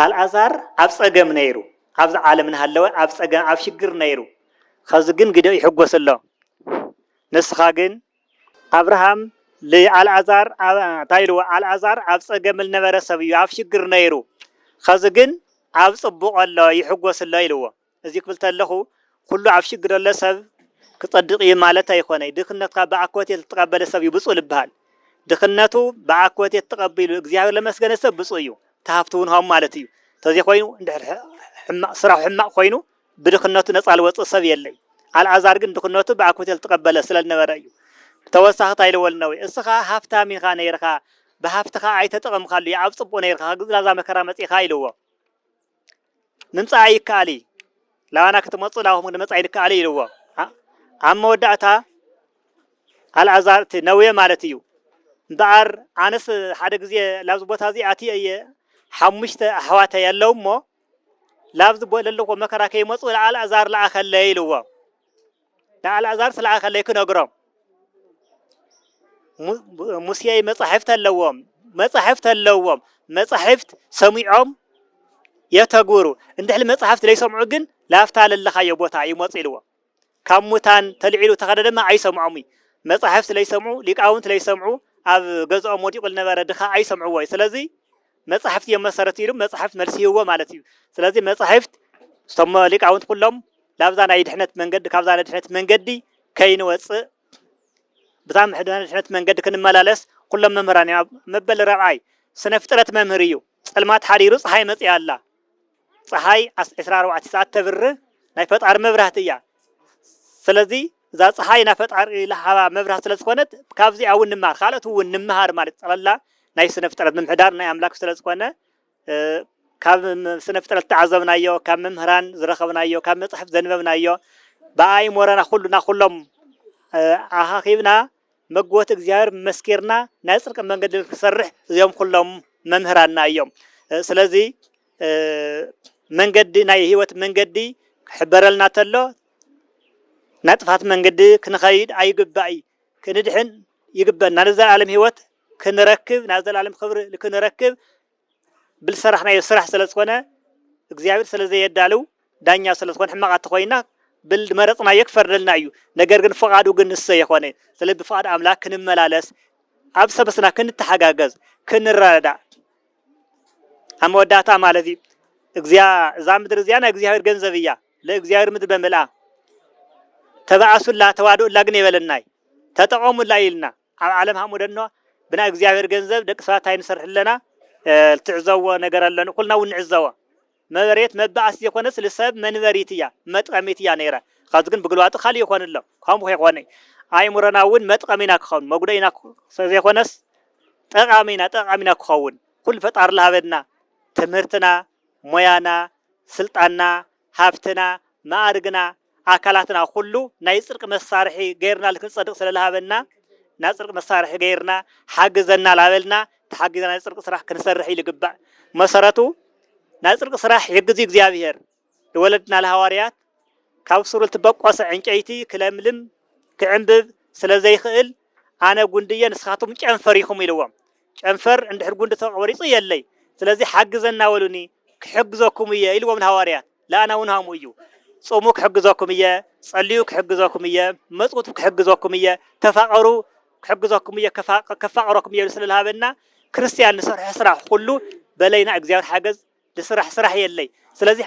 ኣልኣዛር ኣብ ጸገም ነይሩ ኣብዚ ዓለም እናሃለወ ኣብ ጸገም ኣብ ሽግር ነይሩ ኸዚ ግን ግደ ይሕጎስ ኣሎ ንስኻ ግን ኣብርሃም ልኣልኣዛር እንታይ ኢልዎ ኣልኣዛር ኣብ ጸገም ልነበረ ሰብ እዩ ኣብ ሽግር ነይሩ ኸዚ ግን ኣብ ጽቡቕ ኣሎ ይሕጎስ ኣሎ ኢልዎ እዚ ክብል ተለኹ ኩሉ ኣብ ሽግር ዘሎ ሰብ ክጸድቅ እዩ ማለት ኣይኮነይ ድክነትካ ብኣኮቴት ልተቀበለ ሰብ እዩ ብጹእ ልበሃል ድክነቱ ብኣኮቴት ተቀቢሉ እግዚኣብሔር ለመስገነ ሰብ ብጹእ እዩ ተሃፍቱ ውን ሃሙ ማለት እዩ ተዘይኮይኑ እንድሕር ሕማቅ ስራሑ ሕማቅ ኮይኑ ብድክነቱ ነጻ ልወጽእ ሰብ የለይ ኣልኣዛር ግን ድክነቱ ብኣኮቴት ልተቀበለ ስለ ልነበረ እዩ ብተወሳኺ ታይ ልወል እነዌ እስኻ ሃፍታም ኢኻ ነይርኻ ብሃፍትኻ ኣይተጠቀምካሉ ኣብ ጽቡቅ ነይርኻ ግዝላዛ መከራ መጺእካ ኢልዎ ምምጻኣ ይከኣል እዩ ላባና ክትመጹ ላብኹም ንመጻኢ ይከኣል እዩ ኢልዎ ኣብ መወዳእታ ኣልኣዛር እቲ ነዌ ማለት እዩ እምበኣር ኣነስ ሓደ ግዜ ላብዚ ቦታ እዚ ኣትየ እየ ሓሙሽተ ኣሕዋተይ ኣለዉ እሞ ላብዚ ዘለዎ መከራ ከይመፁ ኣልኣዛር ለኣኸለይ ኢልዎ ንኣልኣዛር ስለ ኣኸለይ ክነግሮም ሙሴ መጻሕፍት ኣለዎም መጻሕፍት ኣለዎም መጻሕፍት ሰሚዖም የተግብሩ እንድሕሊ መጽሕፍት ዘይሰምዑ ግን ላፍታ ለለኻዮ ቦታ ይመፁ ኢልዎ ካብ ሙታን ተልዒሉ ተኸደ ድማ ኣይሰምዖም እዩ መጻሕፍት ለይሰምዑ ሊቃውንት ለይሰምዑ ኣብ ገዝኦም ወዲቑ ዝነበረ ድኻ ኣይሰምዕዎ እዩ ስለዚ መጻሕፍቲ እዮም መሰረት ኢሉ መጻሕፍት መልሲ ይህቦ ማለት እዩ ስለዚ መጻሕፍት እቶሞ ሊቃውንት ኩሎም ላብዛ ናይ ድሕነት መንገዲ ካብዛ ናይ ድሕነት መንገዲ ከይንወፅእ ብታ ምሕድና ድሕነት መንገዲ ክንመላለስ ኩሎም መምህራን እዮም መበል ረብዓይ ስነ ፍጥረት መምህር እዩ ጸልማት ሓዲሩ ፀሓይ መፅኣ ኣላ ፀሓይ ዓስ- ዕስራ ኣርባዕተ ሰዓት ተብር ናይ ፈጣሪ መብራህቲ እያ ስለዚ እዛ ፀሓይ ናይ ፈጣሪ ልሃባ መብራህቲ ስለ ዝኾነት ካብዚኣ እውን ንመሃር ካልኦት እውን ንመሃር ማለት እዩ። ጠቕላላ ናይ ስነ ፍጥረት ምምሕዳር ናይ ኣምላክ ስለ ዝኾነ እ፣ ካብ ም- ስነ ፍጥረት ዝተዓዘብናዮ ካብ መምህራን ዝረኸብናዮ ካብ መፅሕፍ ዘንበብናዮ ብኣእምሮና ኩሉና ኩሎም እ፣ ኣኻኺብና መግቦት እግዚኣብሔር መስኪርና ናይ ጽድቂ መንገዲ ንክንሰርሕ እዚኦም ኩሎም መምህራንና እዮም ስለዚ መንገዲ ናይ ህይወት መንገዲ ክሕበረልና ተሎ ናይ ጥፋት መንገዲ ክንኸይድ ኣይግባእ ክንድሕን ይግበና ንዘለዓለም ህይወት ክንረክብ ናይ ዘላለም ክብሪ ክንረክብ ብልሰራሕናዮ ስራሕ ሰለዝኮነ እግዚኣብሔር ሰለዘየዳልው ዳኛ ሰለዝኮነ ሕማቃት ተኮይና ብልመረፅናዮ ክፈርደልና እዩ ነገር ግን ፍቃዱ ግን ንሰየኮነ ሰለዚ ብፍቃድ ኣምላክ ክንመላለስ ኣብ ሰበስና ክንተሓጋገዝ ክንረዳዳእ ኣብ መወዳእታ ማለት እዩ እግዚያ እዛ ምድሪ እዚኣ ናይ እግዚኣብሔር ገንዘብ እያ ለእግዚኣብሔር ምድሪ በምልኣ ተባኣሱላ ተዋድኡላ ግን የበለናይ ተጠቐሙላ ኢልና ኣብ ዓለም ሃሞደኖ ብናይ እግዚኣብሔር ገንዘብ ደቂ ሰባት ታይ ንሰርሕ ኣለና ልትዕዘዎ ነገር ኣሎን ኩልና እውን ንዕዘቦ መበሬት መባኣስ ዘይኮነስ ልሰብ መንበሪት እያ መጥቀሚት እያ ነይረ ኸዚ ግን ብግልባጡ ካልእ ይኾን ኣሎ ከምኡ ከይኾነ ኣእምሮና እውን መጥቀሚና ክኸውን መጉደኢና ዘይኮነስ ጠቃሚና ጠቃሚና ክኸውን ኩሉ ፈጣሪ ልሃበና ትምህርትና ሞያና ስልጣንና ሃብትና፣ መኣርግና፣ ኣካላትና ኩሉ ናይ ጽርቂ መሳርሒ ገይርናሉ ክንጸድቅ ስለ ልሃበና ናብ ጽርቂ መሳርሒ ገይርና ሓግዘና ላበልና ተሓጊዝና ናይ ጽርቂ ስራሕ ክንሰርሕ እዩ ልግባእ መሰረቱ ናይ ጽርቂ ስራሕ ይሕግዙ እግዚኣብሔር ልወለድና ልሃዋርያት ካብ ሱር ልትበቆሰ ዕንጨይቲ ክለምልም ክዕንብብ ስለ ዘይክእል ኣነ ጉንዲ እየ ንስኻትኩም ጨንፈር ኢኹም ኢልዎም። ጨንፈር እንድሕር ጉንዲ ተቖሪጹ የለይ ስለዚ ሓግዘና በሉኒ ክሕግዘኩም እየ ኢልዎም ንሃዋርያት። ለኣና እውን ሃምኡ እዩ። ጹሙ ክሕግዘኩም እየ፣ ጸልዩ ክሕግዘኩም እየ፣ መጽውቱ ክሕግዘኩም እየ፣ ተፋቐሩ ክሕግዘኩም እየ ከፋቕረኩም እየ ኢሉ ስለ ልሃበና ክርስትያን ንሰርሖ ስራሕ ኹሉ በለይና እግዚኣብሔር ሓገዝ ልስራሕ ስራሕ የለይ ስለዚ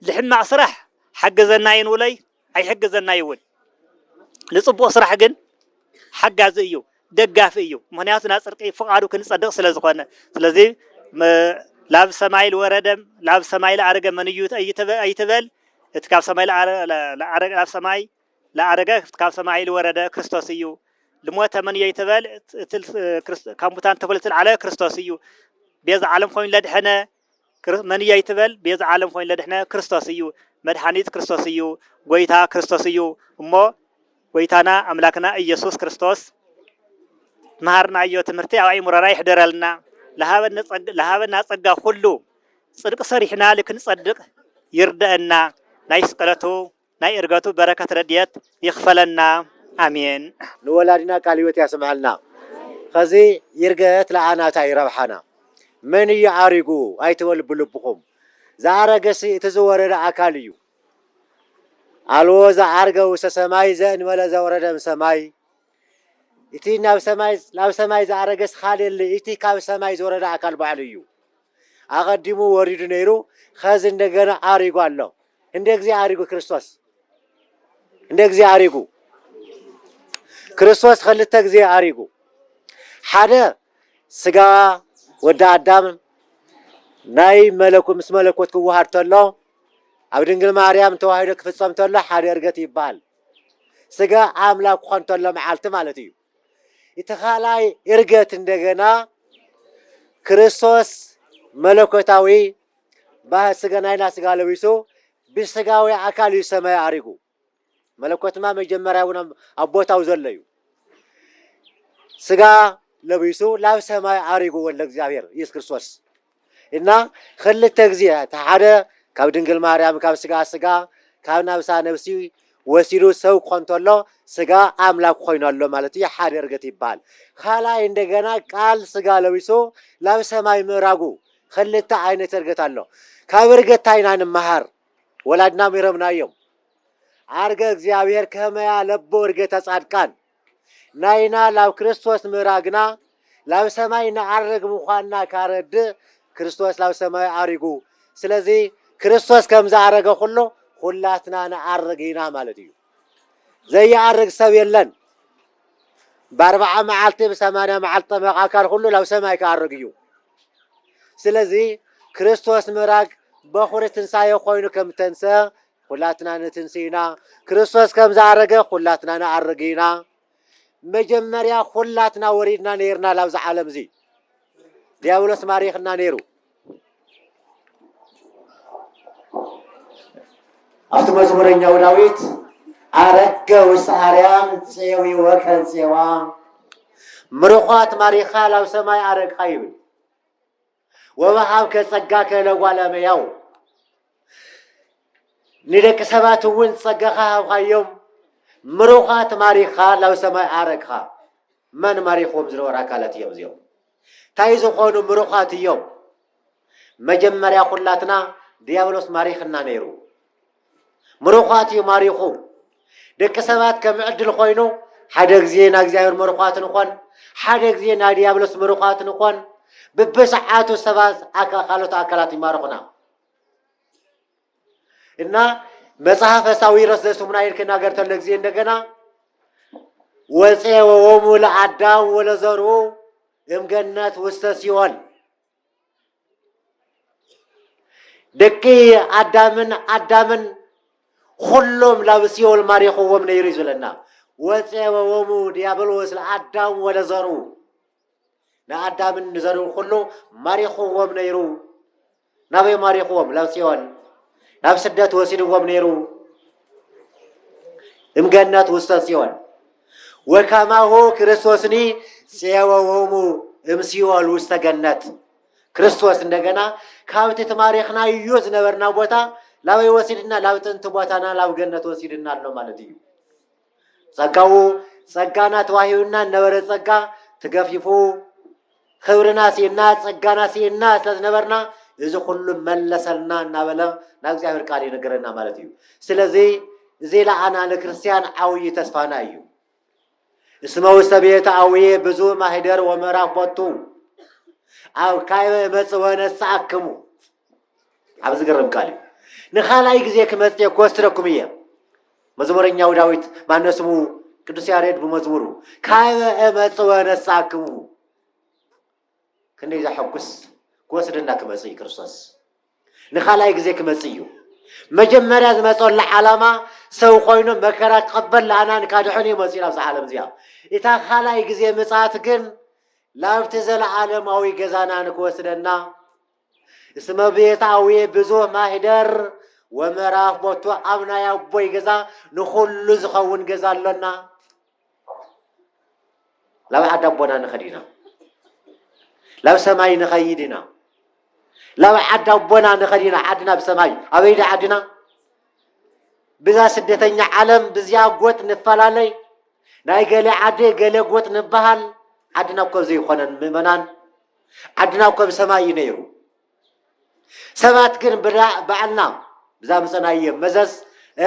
ልሕማቅ ስራሕ ሓግዘናይ ንውለይ ኣይሕግዘናይ እውን ልፅቡቅ ስራሕ ግን ሓጋዚ እዩ ደጋፊ እዩ ምክንያቱ ናፅርቂ ፍቃዱ ክንፀድቅ ስለዝኮነ ስለዚ ላብ ሰማይ ልወረደም ላብ ሰማይ ልኣረገ መን እዩ ኣይትበል እቲ ካብ ሰማይ ልኣረገ ላብ ሰማይ ለአረገክት ካብ ሰማይ ልወረደ ክርስቶስ እዩ። ልሞተ መን እየይ ትበል እቲ ካብ ሙታን ተክሉ ልትልዓለ ክርስቶስ እዩ። ቤዛ ዓለም ኮይኑ ለድሐነ መን እየይ ትበል ቤዛ ዓለም ኮይኑ ለድሕነ ክርስቶስ እዩ። መድሓኒት ክርስቶስ እዩ። ጎይታ ክርስቶስ እዩ። እሞ ጎይታና ኣምላክና ኢየሱስ ክርስቶስ መሃርናዮ ትምህርቲ ኣብ ኣይሙረና ይሕደረልና። ለሃበና ጸጋ ኩሉ ጽድቂ ሰሪሕና ልክንጸድቅ ይርደአና ናይ ስቅለቱ ናይ እርገቱ በረከት ረዲኤት ይክፈለና ኣሜን። ንወላዲና ቃል ህይወት ያስመዐልና ኸዚ ይርገት ለኣና ታይ ረብሓና መን እዩ ዓሪጉ ኣይትበሉ ብልብኹም ዝኣረገሲ እቲ ዝወረደ ኣካል እዩ ኣልቦ ዝዓርገ ውስተ ሰማይ ዘእንበለ ዘወረደ እምሰማይ እቲ ናብ ሰማይ ዝኣረገሲ ካልእ የለ እቲ ካብ ሰማይ ዝወረደ ኣካል ባዕሉ እዩ ኣቐዲሙ ወሪዱ ነይሩ ኸዚ እንደገና ዓሪጉ ኣሎ እንደ እግዚእ ኣሪጉ ክርስቶስ እንደ እግዚእ ኣሪጉ ክርስቶስ ኸልተ ግዜ ኣሪጉ ሓደ ስጋ ወዲ ኣዳም ናይ መለኩ ምስ መለኮት ክወሃድ ተሎ ኣብ ድንግል ማርያም ተዋሂዶ ክፍጸም ተሎ ሓደ እርገት ይበሃል ስጋ ኣምላክ ክኾን ተሎ መዓልቲ ማለት እዩ እቲ ካልኣይ እርገት እንደገና ክርስቶስ መለኮታዊ ባህር ስጋ ናይና ስጋ ለቢሱ ብስጋዊ ኣካል እዩ ሰማይ ኣሪጉ መለኮትማ መጀመርያ እውን ኣብ ቦታው ዘሎ እዩ ስጋ ለቢሱ ናብ ሰማይ ኣሪጉ ወልደ እግዚኣብሔር ኢየሱስ ክርስቶስ እና ኽልተ ግዜ እቲ ሓደ ካብ ድንግል ማርያም ካብ ስጋኣ ስጋ ካብ ናብሳ ነብሲ ወሲዱ ሰብ ክኾን ተሎ ስጋ ኣምላክ ኾይኑ ኣሎ ማለት እዩ ሓደ እርገት ይባሃል ኻልኣይ እንደገና ቃል ስጋ ለቢሱ ናብ ሰማይ ምእራጉ ኽልተ ኣይነት እርገት ኣሎ ካብ እርገት ታይ ኢና ንማሃር ወላድና ሚሮምና እዮም ዓርገ እግዚኣብሔር ከመያ ለቡ እርገተ ጻድቃን ናይና ላብ ክርስቶስ ምእራግና ላብ ሰማይ ንዓርግ ምዃንና ካረድእ ክርስቶስ ላብ ሰማይ ኣሪጉ ስለዚ ክርስቶስ ከምዝኣረገ ኩሉ ኩላትና ንዓርግ ኢና ማለት እዩ ዘይኣርግ ሰብ የለን ብኣርብዓ መዓልቲ ብሰማንያ መዓልቲ ጠመቅ ኣካል ኩሉ ላብ ሰማይ ክኣርግ እዩ ስለዚ ክርስቶስ ምእራግ በኹሪ ትንሳኤ ኮይኑ ከምተንሰ ዅላትና ንትንስእ ኢና። ክርስቶስ ከም ዝኣረገ ዅላትና ንኣርግ ኢና። መጀመርያ ዅላትና ወሪድና ነይርና ላብዚ ዓለም እዚ። ዲያብሎስ ማሪኽና ነይሩ። ኣብቲ መዝሙረኛው ዳዊት ኣረገ ውስተ ኣርያም ፄዊ ወከን ፄዋ ምርዃት ማሪኻ ላብ ሰማይ ኣረግኻ ይብል። ወወሃብከ ጸጋከ ለጓለ እመሕያው ንደቂ ሰባት እውን ጸጋኻ ሃብኻዮም ምሩኻት ማሪኽኻ ናብ ሰማይ ኣረግኻ መን ማሪኽዎም ዝነበሩ ኣካላት እዮም እዚኦም እንታይ ዝኾኑ ምሩኻት እዮም መጀመርያ ኩላትና ዲያብሎስ ማሪኽና ነይሩ ምሩዃት እዩ ማሪኹ ደቂ ሰባት ከም ዕድል ኮይኑ ሓደ ግዜ ናይ እግዚኣብሔር ምሩዃት ንኾን ሓደ ግዜ ናይ ዲያብሎስ ምሩዃት ንኾን ብብስዓቱ ሰባት ካልኦት ኣካላት ይማርኹና እና መጽሐፈ ሳዊሮስ ዘስሙና ይልክ ናገር ተሎ ጊዜ እንደገና ወፄ ወወሙ ለአዳም ወለዘርኡ እምገነት ውስተ ሲኦል ደቂ ኣዳምን ኣዳምን ኹሎም ናብ ሲኦል ማሪኽዎም ነይሩ እዩ ዝብለና ወፄበዎሙ ዲያብሎስ ለኣዳም ወለዘሩ ንኣዳምን ንዘርኡ ኩሉ ማሪኽዎም ነይሩ ናበይ ማሪኽዎም ናብ ሲኦል ናብ ስደት ወሲድዎም ነይሩ እምገነት ውስተ ጽዮን ወከማሁ ክርስቶስኒ ፄወዎሙ እምሲኦል ውስተ ገነት ክርስቶስ እንደገና ካብቲ ተማሪኽናዮ ዝነበርና ቦታ ላበይ ወሲድና ላብ ጥንቲ ቦታና ላብ ገነት ወሲድና ኣሎ ማለት እዩ። ጸጋኡ ጸጋና ተዋሂቡና ዝነበረ ጸጋ ትገፊፉ ክብርና ስኢንና ጸጋና ስኢንና ስለ ዝነበርና እዚ ኩሉ መለሰልና እናበለ ናብ እግዚኣብሔር ቃል ይነገረና ማለት እዩ ስለዚ እዚ ለኣና ንክርስትያን ዓውዪ ተስፋና እዩ እስመ ውስተ ቤተ ኣውዬ ብዙ ማህደር ወምዕራፍ ቦቱ ኣብ ካይበ እመጽእ ወነስኣክሙ ኣብ ዝገርም ቃል እዩ ንካልኣይ ግዜ ክመጽእ ክወስድኩም እየ መዝሙረኛው ዳዊት ማነው ስሙ ቅዱስ ያሬድ ብመዝሙሩ ካበ እመጽወ ነሳክሙ ክንደይ ዘሐጉስ ክወስደና ክመጽእ እዩ ክርስቶስ ንካልኣይ ግዜ ክመጽእ እዩ መጀመርያ ዝመፀሉ ዓላማ ሰው ኮይኑ መከራ ክቐበል ለኣናን ካድሕን እዩ መፅኡ ናብዚ ዓለም እዚኣ እታ ካልኣይ ግዜ ምፅኣት ግን ላብቲ ዘለዓለማዊ ገዛና ንክወስደና እስመ ቤታዊ ብዙህ ማኅደር ወምዕራፍ ቦቱ ኣብ ናይ ኣቦይ ገዛ ንኹሉ ዝኸውን ገዛ ኣሎና። ላብ ዓዲ ኣቦና ንኸድ ኢና። ላብ ሰማይ ንኸይድ ኢና። ላብ ዓዲ ኣቦና ንኸድ ኢና። ዓድና ኣብ ሰማይ ኣበይ ዶ ዓድና? ብዛ ስደተኛ ዓለም ብዚኣ ጎጥ ንፈላለይ ናይ ገሌ ዓዲ ገሌ ጎጥ ንበሃል ዓድና እኮ ዘይኮነን ምእመናን ዓድና እኮ ብ ሰማይ እዩ ነይሩ ሰባት ግን ብዳ ባዕልና ብዛምጸናዮ መዘዝ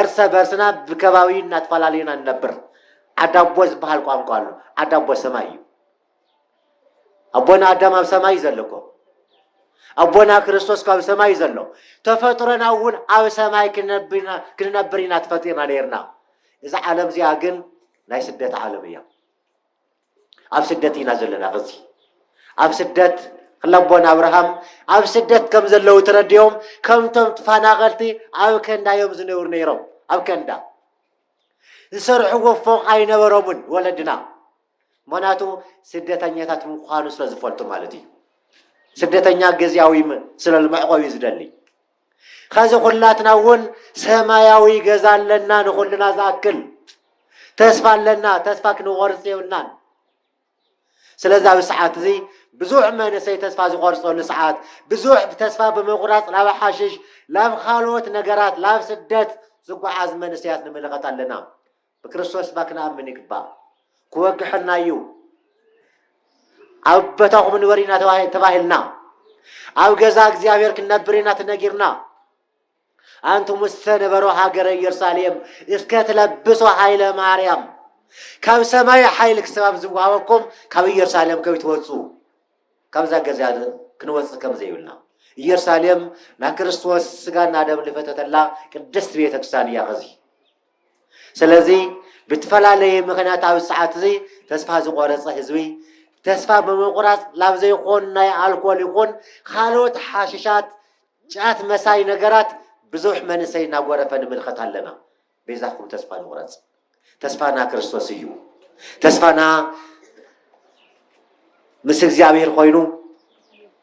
እርሰ በርስና ብከባቢ እናተፈላለዩና ንነብር ዓድ ኣቦ ዝበሃል ቋንቋ ኣሎ ዓድ ኣቦ ሰማይ እዩ ኣቦና ኣዳም ኣብ ሰማይ እዩ ዘሎ እኮ ኣቦና ክርስቶስ ካብ ሰማይ እዩ ዘሎ ተፈጥሮና እውን ኣብ ሰማይ ክንነብር ኢና ተፈጢርና ነይርና እዛ ዓለም እዚኣ ግን ናይ ስደት ዓለም እያ ኣብ ስደት ኢና ዘለና ኸዚ ኣብ ስደት ክለቦን ኣብርሃም ኣብ ስደት ከም ዘለዉ ተረዲኦም ከምቶም ተፈናቐልቲ ኣብ ከንዳ እዮም ዝነብሩ ነይሮም ኣብ ከንዳ ዝሰርሕዎ ፎቕ ኣይነበሮምን ወለድና ምክንያቱ ስደተኛታት ምዃኑ ስለ ዝፈልጡ ማለት እዩ ስደተኛ ግዜያዊ ስለ መዕቆቢ ዝደሊ ኸዚ ኹላትና እውን ሰማያዊ ገዛ ኣለና ንኹልና ዝኣክል ተስፋ ኣለና ተስፋ ክንቆርፅ የብልናን ስለዚ ኣብዚ ሰዓት እዚ ብዙሕ መንእሰይ ተስፋ ዝቆርፀሉ ሰዓት ብዙሕ ተስፋ ብምቁራፅ ናብ ሓሽሽ ናብ ካልኦት ነገራት ናብ ስደት ዝጓዓዝ መንእሰያት ንምልኸት ኣለና ብክርስቶስ እባ ክንኣምን ይግባእ ክወግሐና እዩ ኣብ በታኹ ክንበር ኢና ተባሂልና ኣብ ገዛ እግዚኣብሔር ክንነብር ኢና ተነጊርና ኣንቱም ዝተነበሮ ሃገረ ኢየሩሳሌም እስከ ትለብሶ ኃይለ ማርያም ካብ ሰማይ ሓይሊ ክሰባብ ዝወሃበኩም ካብ ኢየሩሳሌም ከብ ትወፁ ካብዛ ገዛ ክንወፅእ ከም ዘይብልና ኢየሩሳሌም ናይ ክርስቶስ ስጋና ደም ልፈተተላ ቅድስት ቤተክርስቲያን እያ ኸዚ ስለዚ ብትፈላለየ ምክንያት ኣብዚ ሰዓት እዚ ተስፋ ዝቆረፀ ህዝቢ ተስፋ ብምቁራፅ ላብ ዘይኮን ናይ ኣልኮል ይኹን ካልኦት ሓሽሻት ጫት መሳይ ነገራት ብዙሕ መንእሰይ እናጎረፈ ንምልከት ኣለና። ቤዛኹም ተስፋ ንቁረፅ። ተስፋና ክርስቶስ እዩ። ተስፋና ምስ እግዚኣብሔር ኮይኑ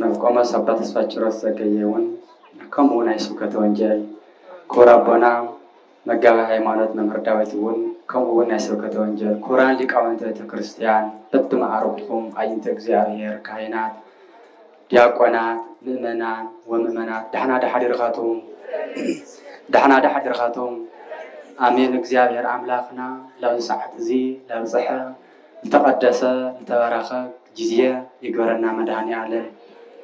ናብ ቆሞስ ኣባ ተስፋችሮስ ዘገየ እውን ከምኡ ናይ ስብከተ ወንጌል ክቡር ኣቦና መጋቢ ሃይማኖት መምህር ዳዊት እውን ከምኡ እውን ናይ ስብከተ ወንጌል ክቡራን ሊቃውንተ ቤተ ክርስቲያን በብመዓርግኹም ኣይንተ እግዚኣብሔር ካህናት ዲያቆናት ምእመናን ወምእመናት ዳሕና ዳሓዲርካቶም ዳሕና ዳሓዲርካቶም ኣሜን እግዚኣብሔር ኣምላኽና ላብዚ ሰዓት እዚ ላብፀሐ ዝተቀደሰ ዝተባረከ ጊዜ ይግበረልና መድሃኒኣለም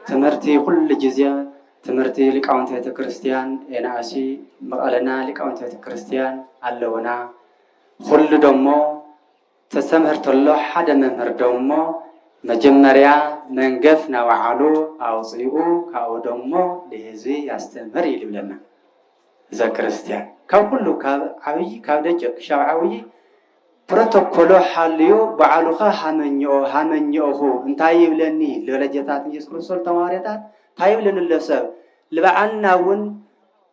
ትምህርቲ ኩሉ ጊዜ ትምህርቲ ሊቃውንቲ ቤተክርስትያን ኤናእሲ መቀለና ሊቃውንቲ ቤተክርስትያን ኣለውና ኩሉ ደሞ ተስተምህር ተሎ ሓደ መምህር ደሞ መጀመርያ መንገፍ ናባዓሉ ኣውፅኡ ካብኡ ደሞ ልህዝቢ ያስተምህር ኢሉ ይብለና እዘክርስትያን ካብ ኩሉ ካብ ዓብይ ካብ ደቂቅ ክሻብ ዓብይ ፕሮቶኮሎ ሓልዮ ባዕሉኻ ሃመኝኦ ሃመኝኦኹ እንታይ ይብለኒ ለለጀታት ኢየሱስ ክርስቶስ ተማሪታት እንታይ ይብለኒ ኣሎ ሰብ ልባዓልና እውን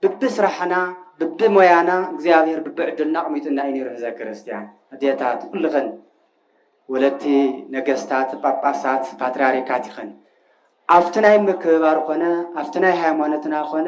ብቢ ስራሕና ብቢ ሞያና እግዚኣብሔር ብቢ ዕድልና ኣቕሚጡና እዩ ነይሩ ህዘ ክርስቲያን ኣዴታት ኩልኽን ወለቲ ነገስታት ጳጳሳት ፓትርያርካት ይኽን ኣብቲ ናይ ምክብባር ኮነ ኣብቲ ናይ ሃይማኖትና ኮነ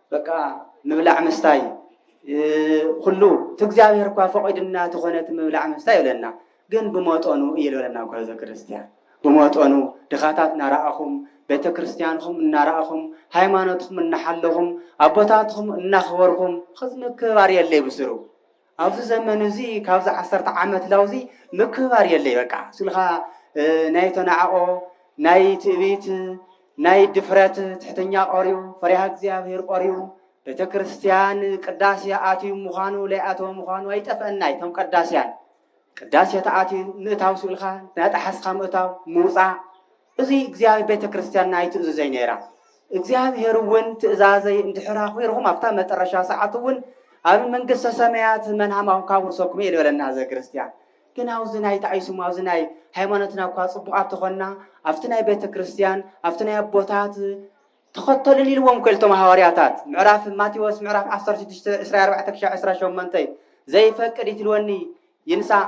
በቃ ምብላዕ ምስታይ ኩሉ እቲ እግዚኣብሔር እኳ ፈቂድና ተኾነ እቲ ምብላዕ ምስታይ ይብለና ግን ብመጠኑ እዩ ዝበለና ጓዘ ክርስትያን ብመጠኑ ድኻታት እናረኣኹም ቤተ ክርስትያንኹም እናረኣኹም ሃይማኖትኩም እናሓለኹም ኣቦታትኹም እናኽበርኩም ኽዝምክባር የለይ ብስሩ ኣብዚ ዘመን እዚ ካብዚ ዓሰርተ ዓመት ላውዚ ምክብባር የለይ በቃ ስልካ ናይ ተናዕቆ ናይ ትዕቢት ናይ ድፍረት ትሕተኛ ቆርዩ ፈሪሃ እግዚኣብሔር ቆርዩ ቤተ ክርስቲያን ቅዳሴ ኣትዩ ምዃኑ ለይኣተወ ምዃኑ ኣይጠፍአና እቶም ቀዳስያን ቅዳሴ ተኣትዩ ምእታው ስልካ ናጠሓስካ ምእታው ምውፃእ እዚ እግዚኣብሔር ቤተ ክርስቲያንና ኣይትእዝዘይ ነይራ እግዚኣብሔር እውን ትእዛዘይ እንድሕር ኣኹርኹም ኣብታ መጠረሻ ሰዓት እውን ኣብ መንግስተ ሰማያት መንሃማኹም ካውርሰኩም እየ ዝበለና ዘ ክርስቲያን ግን ኣብዚ ናይ ተዓይስሙ ኣብዚ ናይ ሃይማኖትና እኳ ፅቡቃት ተኾንና ኣብቲ ናይ ቤተ ክርስቲያን ኣብቲ ናይ ኣቦታት ተኸተሉን ኢልዎም ከልቶም ሃዋርያታት ምዕራፍ ማቴዎስ ምዕራፍ 16 24 ክሻ 28 ዘይፈቅድ ይትልወኒ ይንሳእ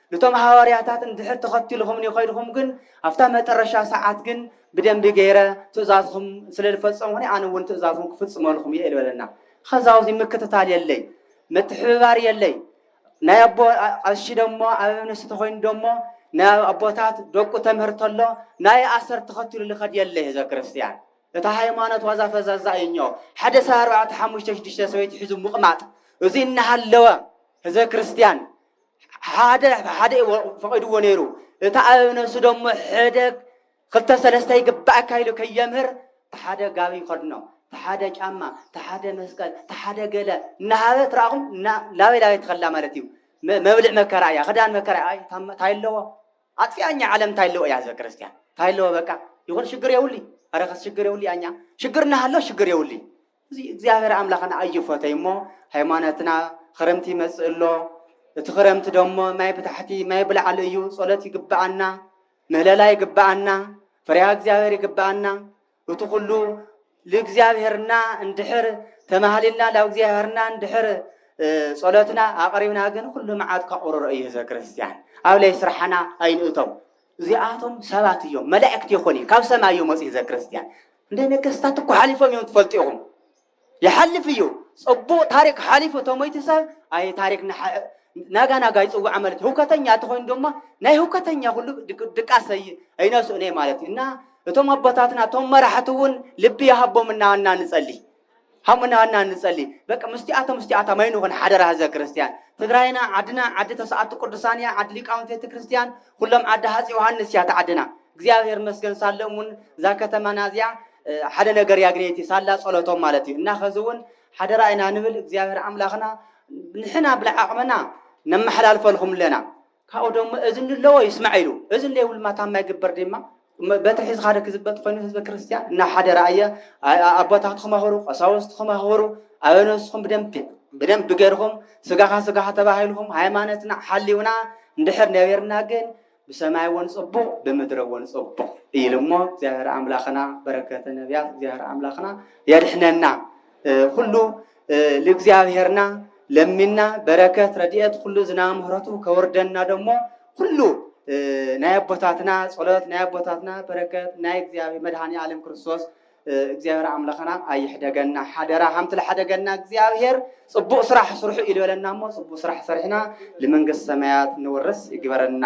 ንቶም ሃዋርያታት እንድሕር ተኸትልኹምኒ ኸይድኹም ግን ኣብታ መጠረሻ ሰዓት ግን ብደንቢ ገይረ ትእዛዝኹም ስለ ዝፈጸምኹኒ ኣነ እውን ትእዛዝኹም ክፍጽመልኹም እየ ዝበለና ኸዛውዚ ምክትታል የለይ ምትሕብባር የለይ ናይ ኣቦ ቀሺ ደሞ ኣብ እምነሲ ተኾይኑ ደሞ ናይ ኣቦታት ደቁ ተምህር ተሎ ናይ ኣሰር ተኸትሉ ልኸድ የለ ህዘ ክርስትያን እታ ሃይማኖት ዋዛ ፈዛዛ እዩኞ ሓደ ሰብ ኣርባዕተ ሓሙሽተ ሽዱሽተ ሰበይቲ ሒዙ ምቕማጥ እዙይ እናሃለወ ህዘ ክርስትያን ሓደ ሓደ ፈቒድዎ ነይሩ እቲ ኣብ ነብሱ ደሞ ሕደ ክልተ ሰለስተ ይግባእካ ኢሉ ከየምህር ተሓደ ጋቢ ይኸድኖ ተሓደ ጫማ ተሓደ መስቀል ተሓደ ገለ እናሃበ ትራኹም ላበይ ላበይ ትኸላ ማለት እዩ መብልዕ መከራ እያ ክዳን መከራ እያ እንታይ ኣለዎ ኣጥፊኣኛ ዓለም እንታይ ኣለዎ እያ ህዝበ ክርስቲያን እንታይ ኣለዎ በቃ ይኹን ሽግር የውሊ ኣረኸስ ሽግር የውሊ ኣኛ ሽግር እናሃሎ ሽግር የውሊ እዚ እግዚኣብሔር ኣምላኽና ኣይፈተይ እሞ ሃይማኖትና ኽረምቲ ይመጽእ ኣሎ እቲ ኽረምቲ ደሞ ማይ ብታሕቲ ማይ ብላዕሊ እዩ ጸሎት ይግብኣና ምህለላ ይግብኣና ፍርያ እግዚኣብሔር ይግብኣና እቲ ኹሉ ልእግዚኣብሔርና እንድሕር ተማሃሊልና ላብ እግዚኣብሔርና እንድሕር ጸሎትና ኣቕሪብና ግን ኹሉ መዓት ካቑርሮ እዩ ህዝበ ክርስትያን ኣብ ለይ ስራሕና ኣይንእቶም እዚኣቶም ሰባት እዮም መላእክቲ ይኹን እዩ ካብ ሰማይ እዩ መጽ ህዝበ ክርስትያን እንደ ነገስታት እኮ ሓሊፎም እዮም ትፈልጡ ኢኹም ይሓልፍ እዩ ፅቡቕ ታሪክ ሓሊፉ ተሞይቲ ሰብ ኣይ ታሪክ ናጋ ናጋ ይፅዋዕ ማለት ህውከተኛ ተኾይኑ ድማ ናይ ህውከተኛ ኩሉ ድቃስ ኣይነስኡን ማለት እዩ እና እቶም ኣቦታትና እቶም መራሕቲ እውን ልቢ ይሃቦም እናና ንፀሊ ሃሙና እና ንጸሊ በቃ ምስቲኣቶም ምስቲኣታ ማይ ንኹን ሓደራ ህዝበ ክርስቲያን ትግራይና ዓድና ዓዲ ተስኣቱ ቅዱሳን እያ ዓዲ ሊቃውንቲ ቤተ ክርስቲያን ኩሎም ዓዲ ሃፅ ዮሃንስ እያ ተዓድና እግዚኣብሔር መስገን ሳለ እውን እዛ ከተማና እዚኣ ሓደ ነገር ያግኔቲ ሳላ ጸሎቶም ማለት እዩ እና ከዚ እውን ሓደራ ኢና ንብል እግዚኣብሔር ኣምላኽና ንሕና ብልዓቕመና ነመሓላልፈልኹም ኣለና ካብኡ ደሞ እዝኒ ለዎ ይስማዕ ኢሉ እዝኒ ለይብሉ ድማ ታማይ ግበር ድማ በትሪ ሒዝካ ሓደ ክዝበጥ ኮይኑ ህዝበ ክርስቲያን እና ሓደረ ኣየ ኣቦታት ክመህሩ ቀሳውስት ክመህሩ ኣበ ነብስኩም ብደንብ ብደንብ ብገርኩም ስጋኻ ስጋኻ ተባሂልኩም ሃይማኖትና ሓሊውና እንድሕር ነቢርና ግን ብሰማይ እውን ጽቡቕ ብምድረ እውን ጽቡቕ ኢሉ እሞ እግዚኣብሔር ኣምላኽና በረከተ ነቢያት እግዚኣብሔር ኣምላኽና የድሕነና ኩሉ ልእግዚኣብሔርና ለሚና በረከት ረድኤት ኩሉ ዝና ምህረቱ ከወርደና ደሞ ኩሉ ናይ ኣቦታትና ጸሎት ናይ ኣቦታትና በረከት ናይ እግዚኣብሔር መድኃኒ ዓለም ክርስቶስ እግዚኣብሔር ኣምላኽና ኣይሕደገና ሓደራ ከምቲ ዝሓደገና እግዚኣብሔር ጽቡቅ ስራሕ ስርሑ ኢሉ በለና እሞ ጽቡቅ ስራሕ ሰሪሕና ንመንግስቲ ሰማያት ንወርስ ይግበረና።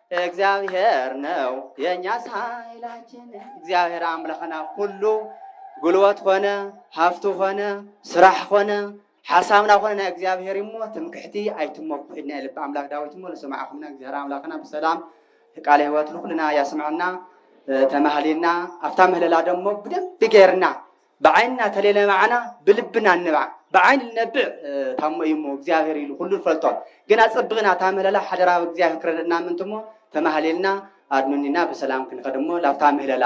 እግዚኣብሔር ነው የኛስ ኃይላችን እግዚኣብሔር ኣምላኽና ኩሉ ጉልበት ኾነ ሃፍቱ ኾነ ስራሕ ኾነ ሓሳብና ኾነ ናይ እግዚኣብሔር እሞ ትምክሕቲ ኣይትመኩሕና የልብ ኣምላክ ዳዊት እሞ ንስማዕኹምና እግዚኣብሔር ኣምላኽና ብሰላም ቃለ ህይወት ንኩልና ያስምዐና ተማህሊና ኣብታ ምህለላ ደሞ ብደንብ ገይርና ብዓይንና ተለለማዕና ብልብና እንባዕ ብዓይኒ ልነብዕ ታሞ እዩ እሞ እግዚኣብሔር ኢሉ ኩሉ ንፈልጦ ግን ኣጸብቕና እታ ምህለላ ሓደራ እግዚኣብሔር ክረድእና ምእንቲ እሞ ተማህሊልና ኣድኑኒና ብሰላም ክንኸድ እሞ ላብታ ምህለላ